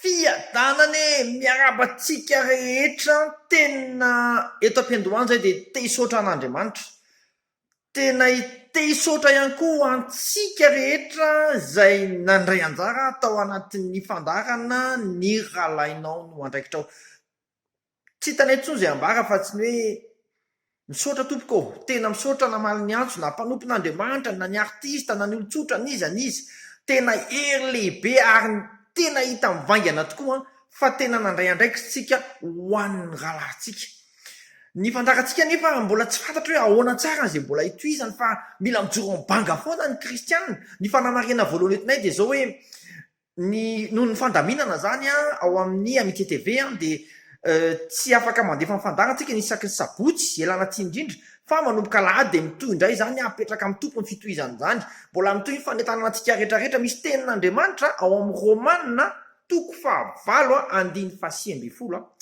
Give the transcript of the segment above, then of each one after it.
Fiadanana e! Miarahaba antsika rehetra tena eto am-piandohana izay dia te hisaotra an'Andriamanitra. Tena te hisaotra ihany koa ho antsika rehetra izay nandray anjara tao anatin'ny fandaharana Ny Rahalahinao no Andraikitrao. Tsy hitany intsony izay ambara afa tsy ny hoe misaotra tompoko ô, tena misaotra namaly ny antso na mpanompon'Andriamanitra na ny artista na ny olon-tsotra n'iza n'iza, tena hery lehibe ary tena hita mivaingana tokoa fa tena nandray andraikitsika ho an'ny rahalahintsika. Ny fandaharantsika anefa mbola tsy fantatra hoe ahoana tsara izay mbola hitohizany fa mila mijoro am-banga foana ny kristiana, ny fanamarihana voalohany entinay dia izao hoe Ny noho ny fandaminana izany ao amin'ny Amitié TV dia tsy afaka mandefa ny fandaharantsika ny isaky ny sabotsy ialana tsiny indrindra fa manomboka alahady dia mitohy indray izany apetraka amin'ny tompony fitohizana izany mbola mitohy ny fanentanana antsika rehetra rehetra misy tenin'Andriamanitra ao amin'ny Romana toko fahavalo andiny fahasivy ambin'ny folo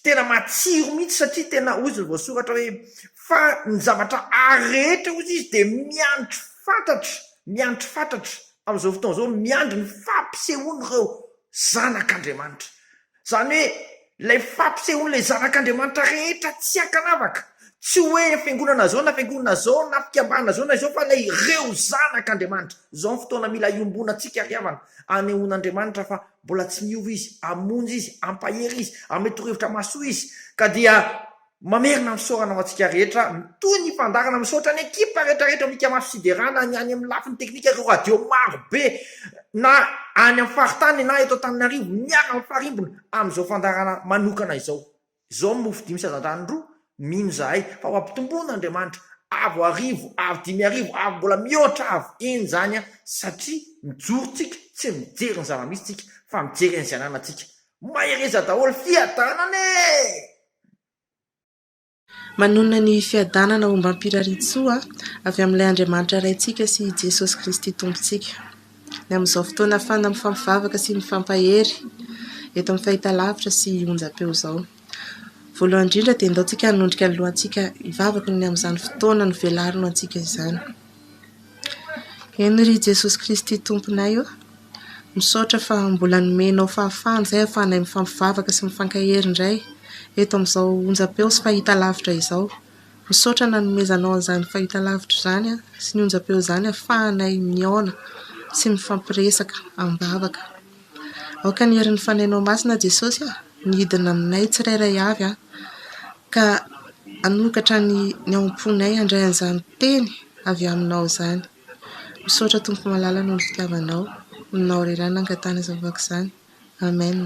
tena matsiro mihitsy satria tena ozy ny voasoratra hoe fa ny zavatra ary rehetra ozy izy dia miandry fatratra miandry fatratra Amin'izao fotoana izao, miandry ny fampisehoan'ireo zanak'Andriamanitra. Izany hoe, ilay fampisehoan'ilay zanak'Andriamanitra rehetra tsy ankanavaka. Tsy hoe fiangonana izao na fiangonana izao na fikambanana izao na izao fa ilay ireo zanak'Andriamanitra. Izao ny fotoana mila iombonantsika ry havana, anehoan'Andriamanitra fa mbola tsy miova Izy, hamonjy Izy, hampahery Izy, hamety torohevitra mahasoa Izy, ka dia Mamerina ny fisaorana ho antsika rehetra mitohy ny fandaharana, misaotra ny ekipa rehetra rehetra mikamaso sy hiderana, ny any amin'ny lafiny teknika ireo radio maro be na any amin'ny faritany na eto Antananarivo miara mifarimbona amin'izao fandaharana manokana izao. Izao ny mofo dimy sy hazandrano roa, mino izahay fa ho ampitomboina Andriamanitra, avo arivo, avo dimy arivo, avo mbola mihoatra avo eny izany an, satria mijoro tsika tsy mijery ny zava-misy tsika fa mijery an'izay ananantsika. Mahereza daholo, fiadanana e! Manonona ny fiadanana ombam-pirarian-tsoa avy amin'ilay Andriamanitra Raintsika sy i Jesosy Kristy Tompontsika. Ny amin'izao fotoana hafana mifampivavaka sy mifampahery eto amin'ny fahitalavitra sy onjam-peo izao. Voalohany indrindra dia endaontsika hanondrika ny lohantsika hivavaka ny amin'izany fotoana novelarino antsika izany. Eny ry Jesosy Kristy Tomponay ô, misaotra fa mbola nomenao fahafahana izay ahafahanay mifampivavaka sy mifankahery indray eto amin'izao onjam-peo sy fahitalavitra izao. Misaotra nanomezanao an'izany fahitalavitra izany sy ny onjam-peo izany ahafahanay mihaona sy mifampiresaka amim-bavaka. Aoka ny herin'ny fanahinao masina, Jesosy a, ny hidina aminay tsirairay avy, ka hanokatra ny ny ao am-ponay handray an'izany teny avy aminao izany. Misaotra Tompo malala noho ny fitiavanao, aminao irery ihany no nangatahana izany vaovako izany. Amen.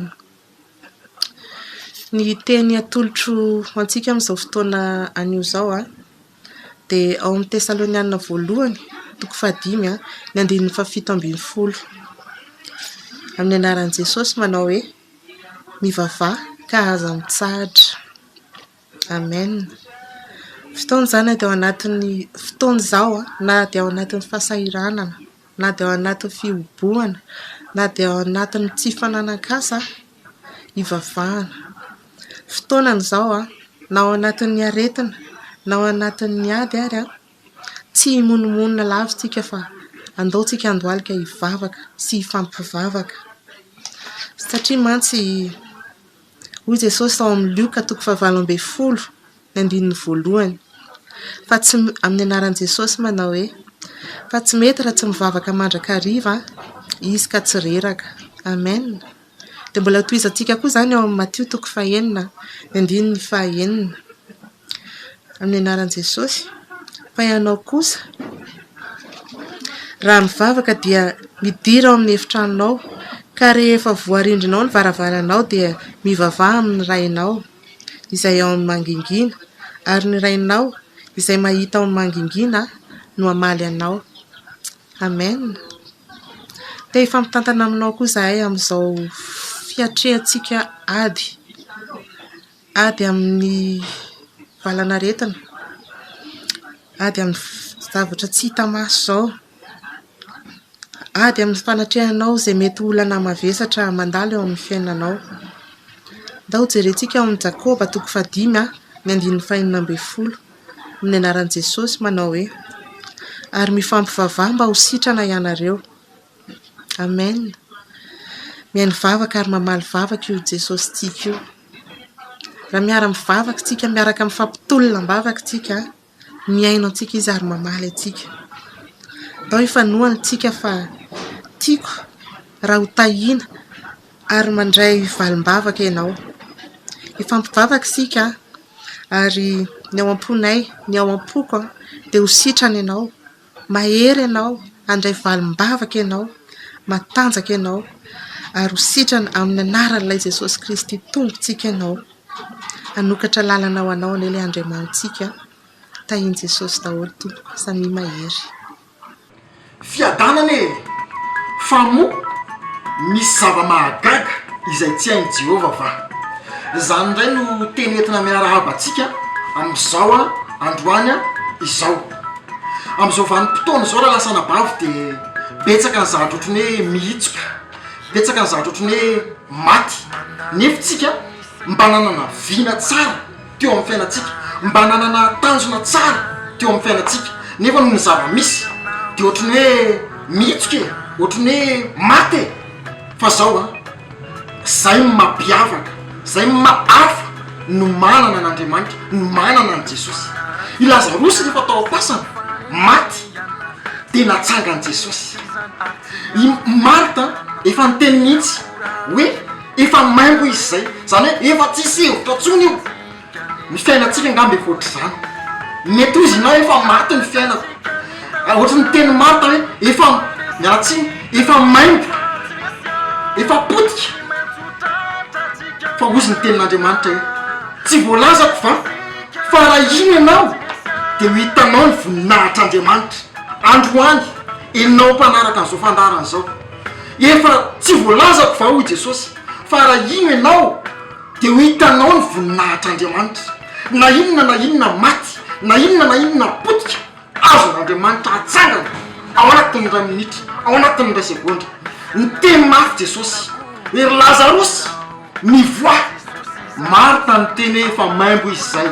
Ny teny atolotro ho antsika amin'izao fotoana anio izao an. Dia ao amin'ny Tesalonianina Voalohany, toko fahadimy, ny andininy fahafito ambin'ny folo. Amin'ny anaran'i Jesosy manao hoe, mivavaha ka aza mitsahatra. Amen. Fotoana izany na dia ao anatin'ny fotoana izao, na dia ao anatin'ny fahasahiranana, na dia ao anatin'ny fihobohana, na dia ao anatin'ny tsy fananan-kasa. Hivavahana. Fotoanany izao, na ao anatin'ny aretina, na ao anatin'ny ady ary, tsy himonomonona lavintsika fa andao tsika handohalika hivavaka sy hifampivavaka. Satria mantsy hoy Jesosy tao amin'ny Lioka toko fahavalo ambin'ny folo Ny andininy voalohany. Fa tsy, amin'ny anaran'i Jesosy manao hoe, Fa tsy mety raha tsy mivavaka mandrakariva izy ka tsy reraka. Amen. Dia mbola hotohizantsika koa izany ao amin'ny Matio toko fahenina, ny andininy fahenina. Amin'ny anaran'i Jesosy. Fa ianao kosa, raha mivavaka dia midira ao amin'ny efitranonao, ka rehefa voarindrinao ny varavaranao dia mivavaha amin'ny Rainao. izay ao amin'ny mangingina, ary ny Rainao izay mahita ao amin'ny mangingina no hamaly anao. Amen. Te hifampitantana aminao koa izahay amin'izao fiatrehantsika ady, ady amin'ny valan'aretina, ady amin'ny zavatra tsy hita maso izao. Ady amin'ny fanatrehanao izay mety ho olana mavesatra mandalo eo amin'ny fiainanao. Ndao hojerentsika ao amin'ny Jakoba toko fahadimy ny andininy fahenina ambin'ny folo no nianaran'i Jesosy manao hoe ary mifampivavaha mba ho sitrana ianareo. Amen. Mihaino vavaka ary mamaly vavaka io Jesosy tiako io. Raha miara-mivavaka isika, miaraka mifampitolona am-bavaka isika. Mihaino antsika izy ary mamaly antsika. Atao hifanohana isika fa tiako raha hotahiana ary mandray valim-bavaka ianao. Hifampivavaka isika ary ny ao am-ponay, ny ao am-poko dia ho sitrana ianao. Mahery ianao, handray valim-bavaka ianao, matanjaka ianao, ary ho sitrana amin'ny anaran'Ilay Jesosy Kristy Tompontsika ianao. Hanokatra lalana ho anao anie Ilay Andriamanitsika. Tahian'i Jesosy daholo tompoko. Samia mahery. Fiadanana e! Fa moa misy zava-mahagaga izay tsy hain'i Jehovah va? Izany indray no teny entina miarahaba antsika amin'izao androany izao. Amin'izao vanim-potoana izao raha lasa anabavy dia betsaka ny zavatra ohatran'ny hoe mihitsoka, betsaka ny zavatra ohatran'ny hoe maty. Nefo tsika mba nanana vina tsara teo amin'ny fiainantsika, mba nanana tanjona tsara teo amin'ny fiainantsika, nefa noho ny zava-misy dia ohatran'ny hoe mihitsoka e, ohatran'ny hoe maty e, fa zao an. Zay no mampiavaka, zay no maha hafa no manana an'Andriamanitra, no manana an'i Jesosy. I Lazarosy rehefa tao am-pasana, maty, dia natsangan'i Jesosy. I Marta efa niteny mihitsy hoe efa maimbo izy izay, izany hoe efa tsisy hevitra intsony io. Ny fiainantsika angamba efa ohatr'izany. Mety ho izy na hoe efa maty ny fiainako. Ohatry ny tenin'i Martha hoe efa, miala tsiny, efa maimbo, efa potika. Fa hozy ny tenin'Andriamanitra hoe, Tsy voalazako va fa raha hino ianao dia ho hitanao ny voninahitr'Andriamanitra. Androany, enao mpanaraka an'izao fandaharana izao. Efa tsy voalazako va, hoy Jesosy, fa raha hino ianao. Dia ho hitanao ny voninahitr'Andriamanitra, na inona na inona maty, na inona na inona potika, azon'Andriamanitra atsangana ao anatin'ny iray minitra, ao anatin'ny iray segondra. Niteny mafy Jesosy hoe, Ry Lazarosy, mivoaha! Marta niteny hoe, Efa maimbo izy izay.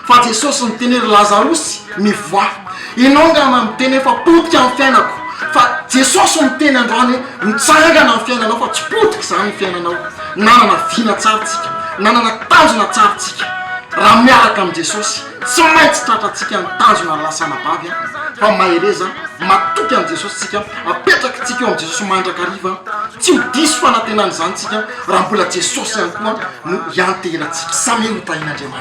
Fa Jesosy niteny ry Lazarosy mivoaha. Enao nga ma miteny hoe fa potika ny fiainako fa Jesosy miteny androany hoe mitsangana ny fiainanao fa tsy potika zany ny fiainanao. Nanana vina tsara tsika, nanana tanjona tsara tsika. Raha miaraka am Jesosy tsy maintsy tratra tsika ny tanjona lasa anabavy a! Fa mahereza matoky an Jesosy tsika, apetraky tsika eo am Jesosy mandrakariva. Tsy ho diso fanatenana izany tsika raha mbola Jesosy ihany koa no ianteheratsika. Samia ho tahin Andriamanitra.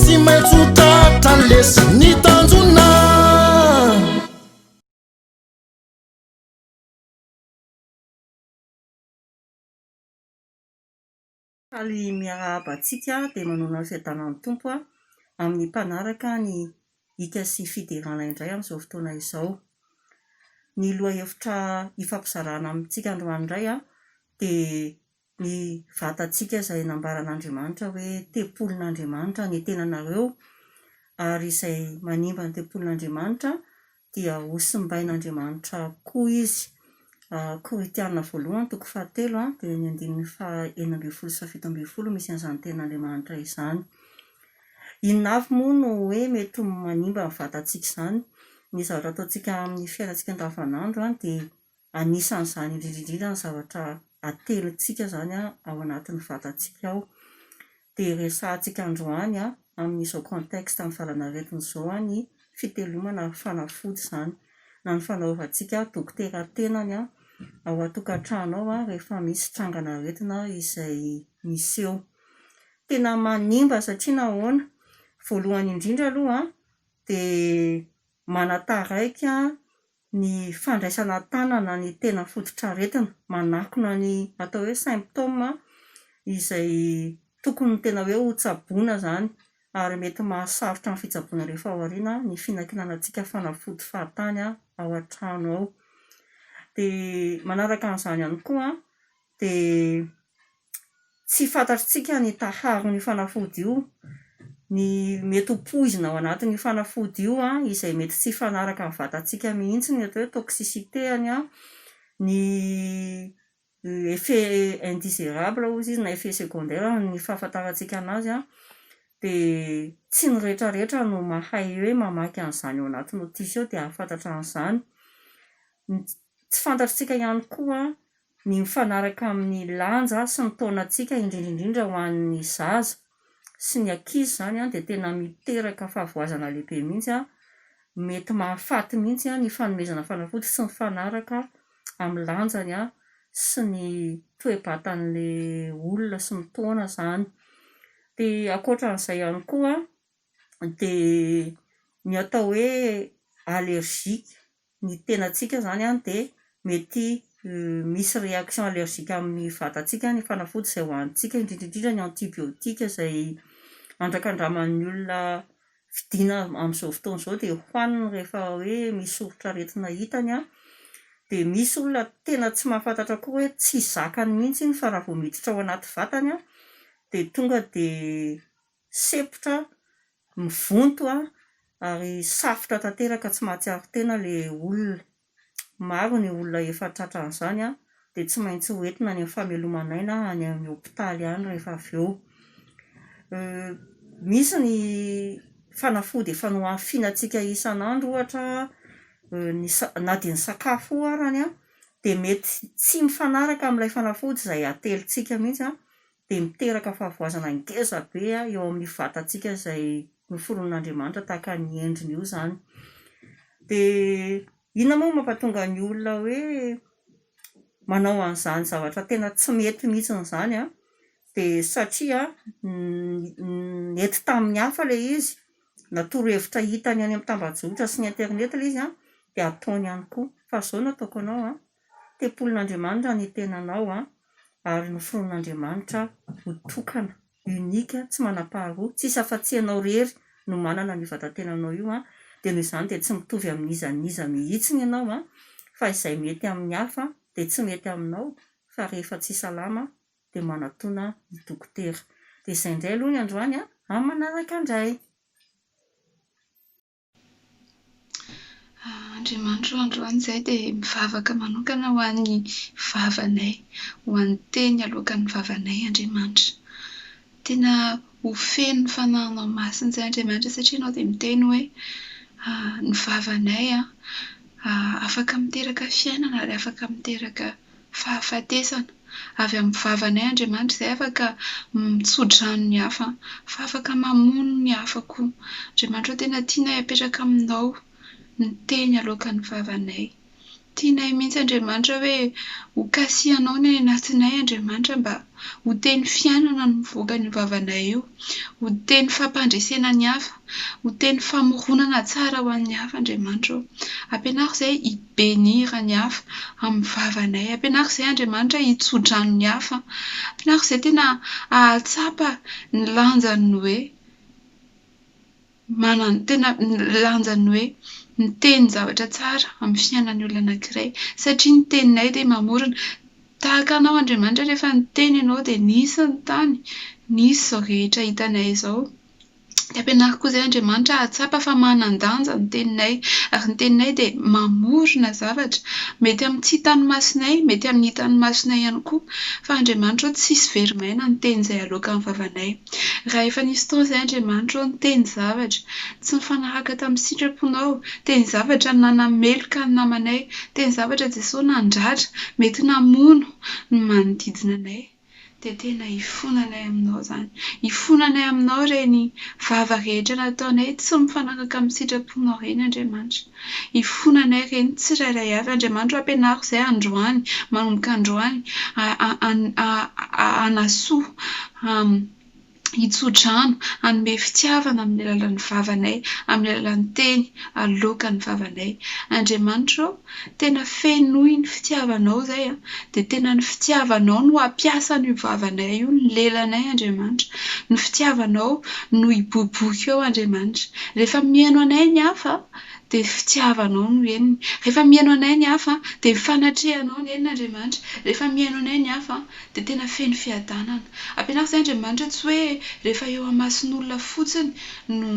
Tsy maintsy ho tratra ny lesy ny tanjona. Faly miarahaba antsika dia manoana ny fiadanan'ny Tompo aho amin'ny mpanaraka ny hika sy fiderana indray amin'izao fotoana izao. Ny lohahevitra hifampizarana amintsika androany indray dia Ny vatantsika izay nambaran'Andriamanitra hoe tempolin'Andriamanitra ny tenanareo ary izay manimba ny tempolin'Andriamanitra dia hosimbain'Andriamanitra koa izy. Korintiana voalohany toko fahatelo a, dia ny andininy faha enina ambin'ny folo sy faha fito ambin'ny folo misy an'izany tenan'Andriamanitra izany. Inona avy moa no hoe mety ho manimba ny vatantsika izany? Ny zavatra ataontsika amin'ny fiainantsika andavanandro dia Anisan'izany indrindra indrindra ny zavatra atelintsika izany ao anatin'ny vatantsika ao. Dia resahantsika androany amin'izao contexte ny valan'aretina izao ny fitelomana ary fanafody izany. Na ny fanaovantsika dokotera tenany ao an-tokantrano ao rehefa misy trangana aretina izay miseho. Tena manimba satria nahoana, voalohany indrindra aloha dia manataraiky ny fandraisana tanana ny tena fototr'aretina manakona ny atao hoe symptômes izay tokony ny tena hoe ho tsaboina izany ary mety mahasarotra ny fitsaboana rehefa ao aoriana ny finakinanantsika fanafody fahatany ao an-trano ao dia manaraka an'izany ihany koa dia tsy fantatr'tsika ny taharon'io fanafody io, ny mety ho poizina ao anatin'io fanafody io izay mety tsy hifanaraka amin'ny vatantsika mihitsy ny atao hoe toxicité-any, ny effet indésirable hozy izy na effet secondaire ny fahafantarantsika an'azy dia tsy ny rehetrarehetra no mahay hoe mamaky an'izany ao anaty notice ao dia hahafantatra an'izany, tsy fantatr'tsika ihany koa ny mifanaraka amin'ny lanja sy ny taonantsika indrindra indrindra ho an'ny zaza sy ny ankizy izany dia tena miteraka fahavoazana lehibe mihitsy, mety mahafaty mihitsy ny fanomezana fanafody tsy mifanaraka amin'ny lanjany sy ny toe-batan'ilay olona sy ny taona izany, dia ankoatra an'izay ihany koa dia ny atao hoe allergique ny tenantsika izany dia mety misy réaction allergique amin'ny vatantsika ny fanafody izay hohanintsika, indrindra indrindra ny antibiotiques izay andrakandraman'ny olona vidiana amin'izao fotoana izao dia hohaniny rehefa hoe misy soritra aretina hitany an, dia misy olona tena tsy mahafantatra koa hoe tsy zakany mihintsy iny fa raha vao miditra ao anaty vatany an dia tonga dia Sepotra, mivonto ary safotra tanteraka tsy mahatsiaro tena ilay olona. Maro ny olona efa tratran'izany dia tsy maintsy ho entina any amin'ny fameloman'aina any amin'ny hopitaly any rehefa avy eo. Misy ny fanafody efa nohafianatsika isan'andro ohatra ny sa- na dia ny sakafo io arany dia mety tsy mifanaraka amin'ilay fanafody izay atelintsika mihitsy dia miteraka fahavoazana ngeza be eo amin'ny vatantsika izay noforonin'Andriamanitra tahaka ny endriny io izany. Dia inona moa no mampatonga ny olona hoe manao an'izany zavatra tena tsy mety mihitsiny izany an? Dia satria nety tamin'ny hafa ilay izy, na torohevitra hitany any amin'ny tambajotra sy ny internet ilay izy an, dia ataony ihany koa. Fa izao no ataoko anao an, Tempolin'Andriamanitra ny tenanao an, ary noforonin'Andriamanitra ho tokana, unique, tsy manam-paharoa, tsisy afa-tsy ianao irery no manana an'io vatan-tenanao io an, dia noho izany dia tsy mitovy amin'iza n'iza mihitsiny ianao an, fa izay mety amin'ny hafa dia tsy mety aminao, fa rehefa tsy salama dia manatona ny dokotera. Dia izay indray aloha ny androany an, amin'ny manaraka indray. Andriamanitro androany izahay dia mivavaka manokana ho an'ny vavanay, ho an'ny teny aloakan'ny vavanay Andriamanitra. Tena ho feno fanananao masina izay Andriamanitra satria ianao dia miteny hoe ny vavanay afaka miteraka fiainana ary afaka miteraka Fahafatesana. Avy amin'ny vavanay Andriamanitra izay afaka mitso-drano ny hafa, fa afaka mamono ny hafa koa. Andriamanitra ô, tena tianay apetraka aminao ny teny aloakan'ny vavanay. Tianay mihitsy Andriamanitra hoe hokasihanao ny any anatinay Andriamanitra mba ho teny fiainana no mivoaka an'io vavanay io, ho teny fampandresena ny hafa, ho teny famoronana tsara ho an'ny hafa Andriamanitra ô. Ampianaro izay. Benira ny hafa amin'ny vavanay. Ampianaro izay Andriamanitra hitso-drano ny hafa. Ampianaro izay tena ahatsapa ny lanjan'ny hoe manan- tena lanjan'ny hoe miteny zavatra tsara amin'ny fiainan'ny olona anankiray. Satria ny teninay dia mamorona. Tahaka anao Andriamanitra rehefa niteny ianao dia nisy ny tany, nisy izao rehetra hitanay izao. dia ampianaro koa izay Andriamanitra hahatsapa fa manan-danja ny teninay, ary ny teninay dia mamorona zavatra, mety amin'ny tsy hitan'ny masonay, mety amin'ny hitan'ny masonay ihany koa, fa Andriamanitra ô tsisy very maina ny teny izay aloaka amin'ny vavanay, raha efa nisy fotoana izay Andriamanitra ô niteny zavatra tsy nifanaraka tamin'ny sitraponao, teny zavatra nanameloka ny namanay, teny zavatra Jesoa nandratra, mety namono ny manodidina anay. Dia tena ifonanay aminao izany. Ifonanay aminao ireny vava rehetra nataonay tsy mifanaraka amin'ny sitraponao ireny, Andriamanitra. Ifonanay ireny tsirairay avy. Andriamanitra ô, ampianaro izay androany, manomboka androany, hanasoa, hitso-drano, hanome fitiavana amin'ny alalan'ny vavanay, amin'ny alalan'ny teny aloaka ny vavanay. Andriamanitra ô, tena fenoy ny fitiavanao izay an! dia tena ny fitiavanao no hampiasa an'io vavanay io, ny lelanay Andriamanitra, ny fitiavanao no hiboiboika eo Andriamanitra. Rehefa mihaino anay ny hafa dia fitiavanao no henony, rehefa mihaino anay ny hafa dia ny fanatrehanao no henony Andriamanitra, rehefa mihaino anay ny hafa dia tena feno fiadanana. Ampianaro izay Andriamanitra tsy hoe rehefa eo amasin'olona fotsiny no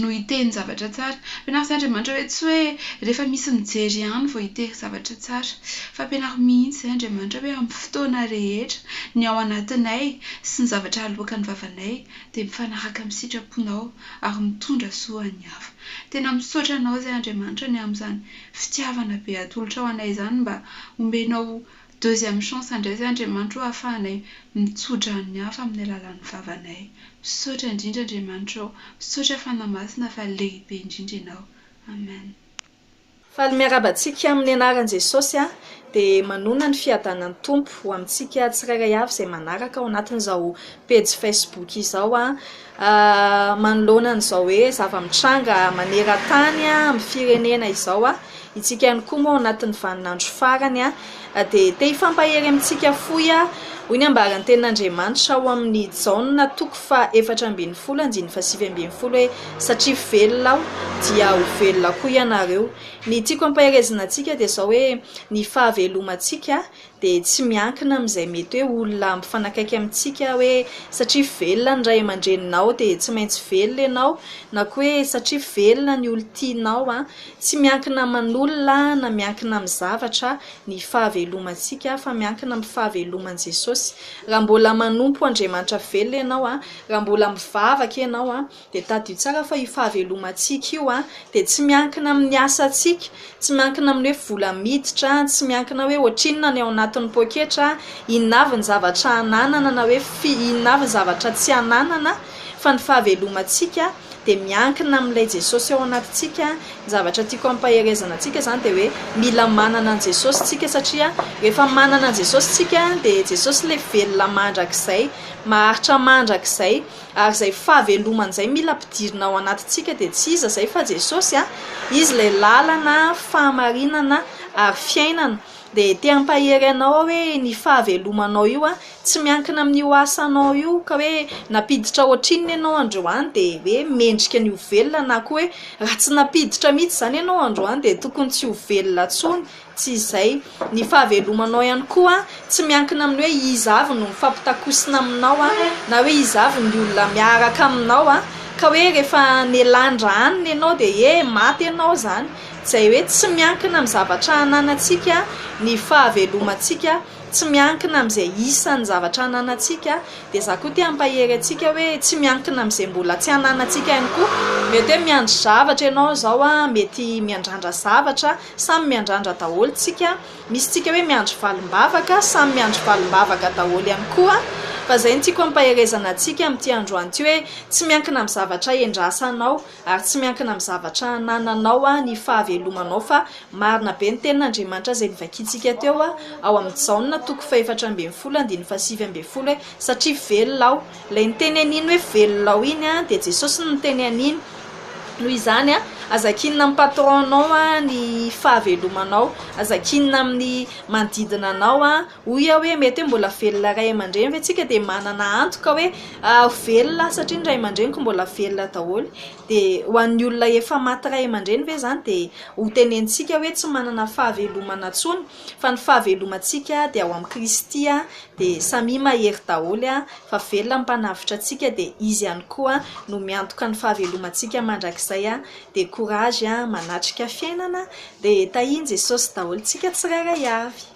no hiteny zavatra tsara. Ampianaro izay Andriamanitra hoe tsy hoe rehefa misy mijery ihany vao hiteny zavatra tsara. Fa ampianaro mihitsy izay Andriamanitra hoe amin'ny fotoana rehetra ny ao anatinay sy ny zavatra aloakan'ny vavanay dia mifanaraka amin'ny sitraponao ary mitondra soa ho an'ny hafa. Tena misaotra anao izay Andriamanitra ny amin'izany fitiavana be atolotrao anay izany mba omenao Deuxième chance ndray zay Andriamanitro ô afahanay mitsodrano ny hafa amin'ny alalan'ny vavanay. Misaotra indrindra Andriamanitra ô. Misaotra Fanahy Masina fa lehibe indrindra ianao. Amen. Faly miarahaba antsika amin'ny anaran'i Jesosy aho dia manona ny fiadanan'ny Tompo ho amintsika tsirairay avy izay manaraka ao anatin'izao pejy Facebook izao aho Manoloana an'izao hoe zava-mitranga maneran-tany amin'ny firenena izao, isika ihany koa moa ao anatin'ny vaninandro farany dia te hifampahery amintsika fohy hoy ny ambaran'ny tenin'Andriamanitra ao amin'ny Jaona toko fahefatra ambin'ny folo andininy fahasivy ambin'ny folo hoe satria velona aho dia ho velona koa ianareo. Ny tiako hampaherezina antsika dia izao hoe ny fahavelomantsika dia tsy miankina amin'izay mety hoe olona mifanakaiky amintsika hoe satria velona ny ray aman-dreninao dia tsy maintsy velona ianao na koa hoe satria velona ny olon-tianao an, tsy miankina aman'olona na miankina amin'ny zavatra ny fahavelomantsika fa miankina amin'ny fahaveloman'i Jesosy. Raha mbola manompo Andriamanitra velona ianao an, raha mbola mivavaka ianao an, Dia tadidio tsara fa io fahavelomantsika io dia tsy miankina amin'ny asantsika, tsy miankina amin'ny hoe vola miditra, tsy miankina hoe ohatrinona ny ao anatin'ny poketra, inona avy ny zavatra ananana na hoe inona avy ny zavatra tsy ananana fa ny fahavelomantsika dia miankina amin'ilay Jesosy ao anatintsika. Ny zavatra tiako hampaherezana antsika izany dia hoe mila manana an'i Jesosy isika satria rehefa manana an'i Jesosy isika dia Jesosy ilay velona mandrakizay, maharitra mandrakizay. Ary izay fahavelomany izay mila ampidirina ao anatintsika dia tsy iza izay fa Jesosy. Izy ilay lalana, fahamarinana ary fiainana. Dia te hampahery anao aho hoe ny fahavelomanao io tsy miankina amin'io asanao io ka hoe nampiditra ohatrinona ianao androany dia hoe mendrika ny ho velona na koa hoe raha tsy nampiditra mihitsy izany ianao androany dia tokony tsy ho velona intsony. Tsy izay. Ny fahavelomanao ihany koa tsy miankina amin'ny hoe iza avy no mifampitakosina aminao na hoe iza avy ny olona miaraka aminao ka hoe rehefa nelandra hanina ianao dia he maty ianao izany. Izay hoe tsy miankina amin'ny zavatra ananantsika ny fahavelomantsika, tsy miankina amin'izay isan'ny zavatra ananantsika. Dia izaho koa te hampahery antsika hoe tsy miankina amin'izay mbola tsy ananantsika ihany koa. Mety hoe miandry zavatra ianao izao, mety miandrandra zavatra Samy miandrandra daholo tsika, misy tsika hoe miandry valim-bavaka, samy miandry valim-bavaka daholo ihany koa, fa zay no tiako ampaherezana antsika amin'ity androany ity hoe tsy miankina amin'ny zavatra endrasanao ary tsy miankina amin'ny zavatra anananao ny fahavelomanao fa marina be ny tenin'Andriamanitra izay novakintsika teo ao amin'ny Jaona toko fahefatra ambin'ny folo andininy fahasivy ambin'ny folo hoe satria velona aho Ilay niteny an'iny hoe velona ao iny dia Jesosy no niteny an'iny. Noho izany, aza kinina amin'ny patron-nao ny fahavelomanao, aza kinina amin'ny manodidina anao. Hoy aho hoe mety hoe mbola velona ray aman-dreny ve tsika dia manana antoka hoe ho velona aho satria ny ray aman-dreniko mbola velona daholo? Dia ho an'ny olona efa maty ray aman-dreny ve izany dia hotenenintsika hoe tsy manana fahavelomana intsony? fa ny fahavelomantsika dia ao amin'i Kristy dia samia mahery daholo fa velona ny mpanavotra antsika dia izy ihany koa no miantoka ny fahavelomantsika mandrakizay dia courage manatrika fiainana dia tahian'i Jesosy daholo tsika tsirairay avy.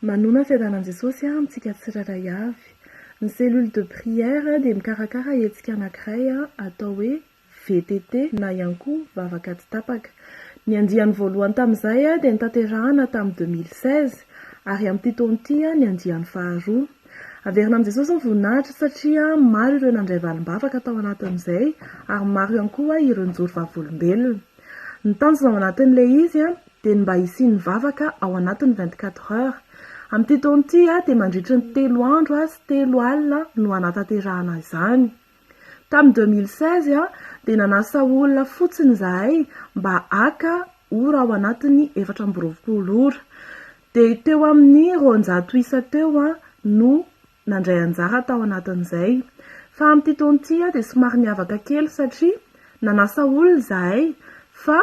Manona fiadanan'i Jesosy amintsika tsirairay avy. Ny cellule de prière dia mikarakara hetsika anankiray atao hoe VTT, na ihany koa vavaka tsy tapaka. Ny andiany voalohany tamin'izay dia notanterahina tamin'ny deux mille seize, ary amin'ity taona ity ny andiany faharoa. Averina amin'i Jesosy ny voninahitra satria maro ireo nandray valim-bavaka tao anatin'izay, ary maro ihany koa ireo nijoro vavolombelona. Ny tanjona ao anatin'ilay izy dia ny mba hisian'ny vavaka ao anatin'ny vingt quatre heures. Amin'ity taona ity dia mandritry ny telo andro sy telo alina no hanatanterahana izany. Tamin'ny deux mille seize dia nanasa olona fotsiny izahay mba haka ora ao anatin'ny efatra amby roapolo ora. Dia teo amin'ny roanjato isa teo no nandray anjara tao anatin'izay. Fa amin'ity taona ity dia somary niavaka kely satria nanasa olona izahay fa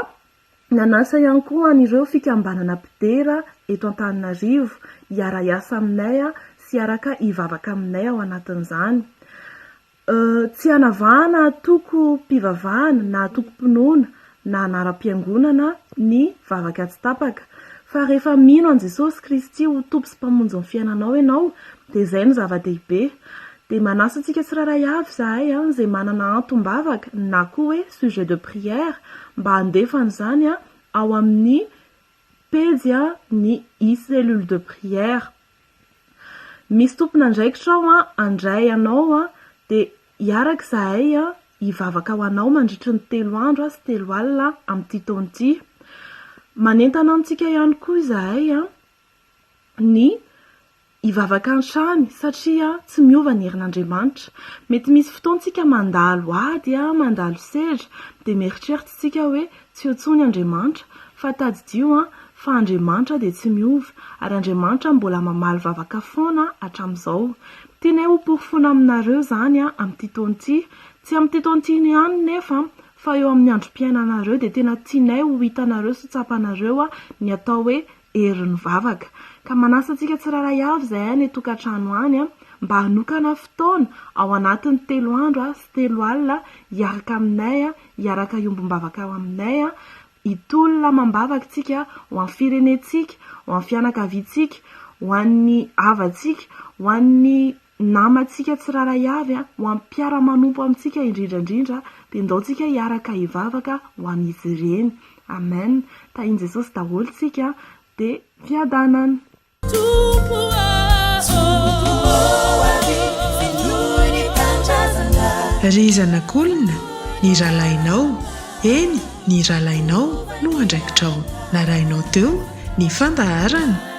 Nanasa ihany koa an'ireo fikambanana mpidera eto Antananarivo hiara-hiasa aminay sy hiaraka hivavaka aminay ao anatin'izany. Tsy hanavahana antokom-pivavahana na antokom-pinoana na anaram-piangonana ny vavaka tsy tapaka. Fa rehefa mino an'i Jesosy Kristy ho Tompo sy Mpamonjin'ny fiainanao ianao dia izay no zava-dehibe. Dia manasa antsika tsirairay avy izahay izay manana antom-bavaka na koa hoe sujet de prière mba handefa an'izany ao amin'ny pejy ny i cellule de prière. Misy tompon'andraikitra ao handray anao dia hiaraka izahay hivavaka ho anao mandritry ny telo andro sy telo alina amin'ity taona ity. Manentana antsika ihany koa izahay ny hivavaka hatrany satria tsy miova ny herin'Andriamanitra. Mety misy fotoana isika mandalo ady, mandalo sedra dia mieritreritra isika hoe tsy eo intsony Andriamanitra fa tadidio fa Andriamanitra dia tsy miova ary Andriamanitra mbola mamaly vavaka foana hatramin'izao. Tianay ho porofoina aminareo izany amin'ity taona ity. Tsy amin'ity taona ity ihany nefa fa eo amin'ny androm-piainanareo dia tena tianay ho hitanareo sy ho tsapanareo ny atao hoe herin'ny vavaka. Ka manasa antsika tsirairay avy izay any an-tokantrano any mba hanokana fotoana ao anatin'ny telo andro sy telo alina hiaraka aminay, hiaraka hiombom-bavaka ao aminay, hitolona amam-bavaka isika ho an'ny firenentsika, ho an'ny fianakaviantsika, ho an'ny havantsika, ho an'ny namantsika tsirairay avy, ho an'ny mpiara-manompo amintsika indrindra indrindra, dia ndao tsika hiaraka hivavaka ho an'izy ireny. Amen. Tahin'i Jesosy daholo tsika dia fiadanana. Tompo ô! Ry zanak'olona, ny rahalahinao, eny, ny rahalahinao no andraikitrao. Narahinao teo ny fandaharana?